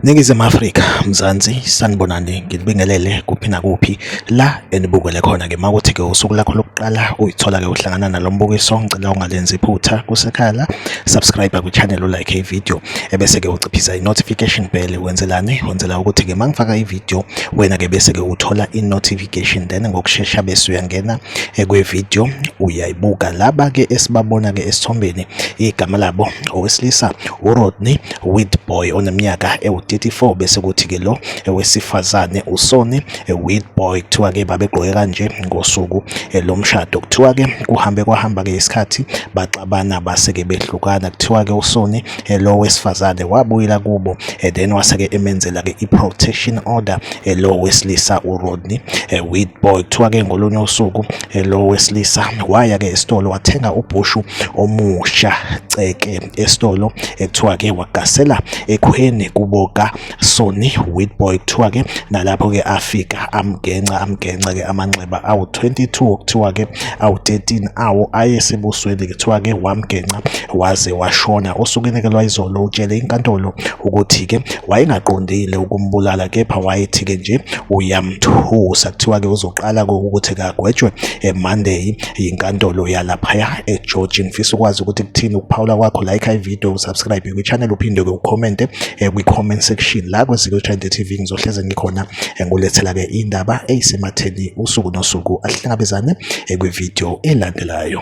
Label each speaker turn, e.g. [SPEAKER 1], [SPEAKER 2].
[SPEAKER 1] Ningizimu Afrika, Mzansi, sanibonani nginibingelele kuphi nakuphi la enibukele khona ke makuthi ke usuku lakho lokuqala uyithola ke uhlangana nalombukiso ngicela ungalenzi iphutha kusekhaya la subscribe ku channel like i video ebese ke uciphisa i notification bell wenzelani wenzela ukuthi ke mangifaka i video wena ke bese ke uthola i notification investigation then ngokushesha bese uyangena eh, kwivideo uyayibuka laba ke esibabona ke esithombeni igama labo owesilisa uRodney Whitboy oneminyaka ewu34 bese kuthi ke lo eh, wesifazane uSonny eh, Whitboy kuthiwa ke babegqoke kanje ngosuku lomshado kuthiwa ke kuhambe kwahamba ke isikhathi baxabana base ke behlukana kuthiwa ke uSonny lo wesifazane wabuyela kubo then wase ke emenzela ke iprotection order eh, lo wesilisa uRodney eh, Witboy kuthiwa ke ngolunye usuku eh, lo wesilisa waya ke esitolo wathenga ubhushu omusha ceke esitolo ekuthiwa ke wagasela ekhweni kuboka Sony Witboy kuthiwa ke nalapho ke afika amgenca amgenca ke amanxeba awu 22 okuthiwa ke awu-13 awo ayesebusweni kuthiwa-ke wamgenca waze washona osukenekelwa izolo utshele inkantolo ukuthi-ke wayengaqondile ukumbulala kepha wayethi-ke nje uyamthusa kuthiwa-ke uzoqala ukuthi kagwetshwe emonday yinkantolo yalaphaya egeorgia ngifisa ukwazi ukuthi kuthini ukuphawula kwakho like ivideo usubscribe kwichannel uphinde-ke ukhomente eh, kwi-comment section la kwezikwethande tv ngizohleze ngikhona Engulethela-ke indaba eyisematheni usuku nosuku ahlangabezane kwividiyo elandelayo.